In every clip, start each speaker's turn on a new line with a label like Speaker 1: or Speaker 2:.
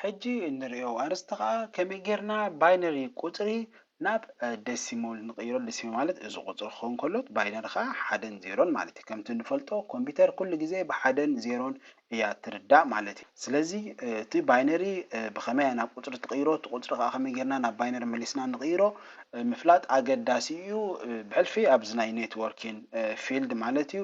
Speaker 1: ሕጂ እንርእዮ ኣርእስቲ ከኣ ከመይ ጌርና ባይነሪ ቁጽሪ ናብ ደሲሞል ንቕይሮ ደሲሞል ማለት እዚ ቁጽሪ ክኸውን ከሎ ባይነሪ ከኣ ሓደን ዜሮን ማለት እዩ ከምቲ ንፈልጦ ኮምፒተር ኩሉ ግዜ ብሓደን ዜሮን እያ ትርዳእ ማለት እዩ ስለዚ እቲ ባይነሪ ብኸመይ ናብ ቁጽሪ ትቕይሮ እቲ ቁጽሪ ከኣ ከመይ ጌርና ናብ ባይነሪ መሊስና ንቕይሮ ምፍላጥ ኣገዳሲ እዩ ብሕልፊ ኣብዚ ናይ ኔትወርኪን ፊልድ ማለት እዩ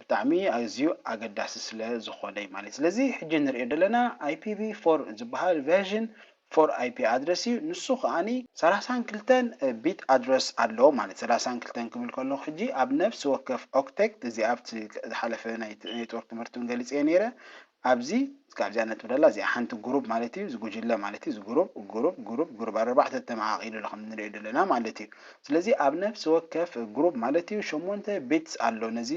Speaker 1: ብጣዕሚ ኣዝዩ ኣገዳሲ ስለ ዝኾነ እዩ ማለት እዩ። ስለዚ ሕጂ ንርእዮ ደለና IPV ፎር ዝበሃል ቨርዥን ፎር ኣይፒ ኣድረስ እዩ። ንሱ ከኣ ሰላሳን ክልተን ቢት ኣድረስ ኣለዎ ማለት እዩ። ሰላሳን ክልተን ክብል ከለኹ ሕጂ ኣብ ነፍሲ ወከፍ ኦክተት እዚ ኣብቲ ዝሓለፈ ናይ ኔትወርክ ትምህርቲ እውን ገሊጸዮ ነይረ ኣብዚ እስካብ እዚኣ ነጥቢ ደላ እዚኣ ሓንቲ ጉሩብ ማለት እዩ እዚ ጉጅለ ማለት እዩ እዚ ጉሩብ ጉሩብ ጉሩብ ጉሩብ ኣረባዕተ ተመቃቂሉ ኣሎ ከም ንሪኦ ደለና ማለት እዩ ስለዚ ኣብ ነፍሲ ወከፍ ጉሩብ ማለት እዩ ሸሞንተ ቢትስ ኣሎ ነዚ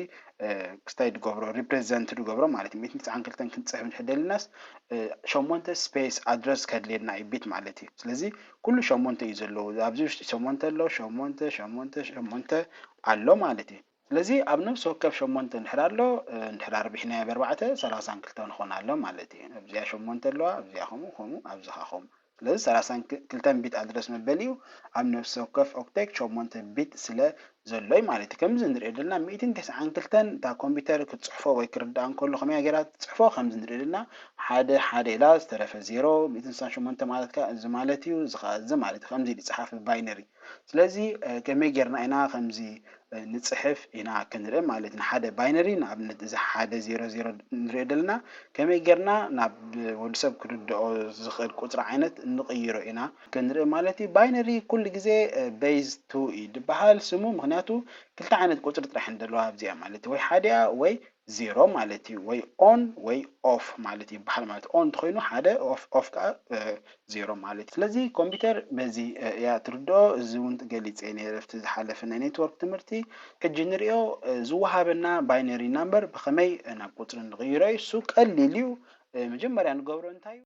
Speaker 1: ክስታይ ድገብሮ ሪፕረዘንት ድገብሮ ማለት እዩ ሚእትን ትስዓን ክልተን ክንጽሕፍ እንድሕር ደሊናስ ሸሞንተ ስፔስ ኣድረስ ከድልየና እዩ ቢት ማለት እዩ ስለዚ ኩሉ ሸሞንተ እዩ ዘለዎ ኣብዚ ውሽጢ ሸሞንተ ኣሎ ሸሞንተ ሸሞንተ ሸሞንተ ኣሎ ማለት እዩ ስለዚ ኣብ ነብሲ ወከፍ ሸሞንተ እንድሕር ኣሎ እንድሕር ኣርቢሕናዮ በርባዕተ ሰላሳን ክልተን ኾን ኣሎ ማለት እዩ ኣብዚኣ ሸሞንተ ኣለዋ ኣብዚኣ ከምኡ ከምኡ ኣብዚ ኸኣ ከምኡ ስለዚ ሰላሳን ክልተን ቢት ኣድረስ መበሊኡ ኣብ ነብሲ ወከፍ ኦክቴት ሸሞንተ ቢት ስለ ዘሎ እዩ ማለት እዩ ከምዚ ንሪኦ ደልና ሚእትን ተስዓን ክልተን እታ ኮምፒተር ክትጽሕፎ ወይ ክርድኣ እንከሎ ከመይ እያ ጌራ ትጽሕፎ ከምዚ ንሪኦ ደልና ሓደ ሓደ ኢላ ዝተረፈ ዜሮ ሚእትን ስሳን ሸሞንተ ማለት ከኣ እዚ ማለት እዩ እዚ ኸኣ እዚ ማለት እዩ ከምዚ ኢሉ ይጽሓፍ ብባይነሪ ስለዚ ከመይ ጌርና ኢና ከምዚ ንጽሕፍ ኢና ክንርኢ ማለት ንሓደ ባይነሪ ንኣብነት እዚ ሓደ ዜሮ ዜሮ ንሪኦ ደለና ከመይ ጌርና ናብ ወዲ ሰብ ክርድኦ ዝኽእል ቁጽሪ ዓይነት ንቕይሮ ኢና ክንርኢ ማለት እዩ ባይነሪ ኩሉ ግዜ በይዝ ቱ እዩ ድበሃል ስሙ ምኽንያቱ ክልተ ዓይነት ቁጽሪ ጥራሕ እየን ደለዋ ኣብዚኣ ማለት ወይ ሓዲኣ ወይ ዜሮ ማለት እዩ ወይ ኦን ወይ ኦፍ ማለት ይበሃል ማለት እዩ ኦን እንተኾይኑ ሓደ ኦፍ ኦፍ ከዓ ዜሮ ማለት እዩ ስለዚ ኮምፒተር በዚ እያ ትርድኦ እዚ እውን ገሊፀ ነይረ ኣብቲ ዝሓለፈ ናይ ኔትወርክ ትምህርቲ ሕጂ ንሪኦ ዝወሃበና ባይነሪ ናምበር ብኸመይ ናብ ቁፅሪ ንቕይሮ እዩ እሱ ቀሊል እዩ መጀመርያ ንገብሮ እንታይ እዩ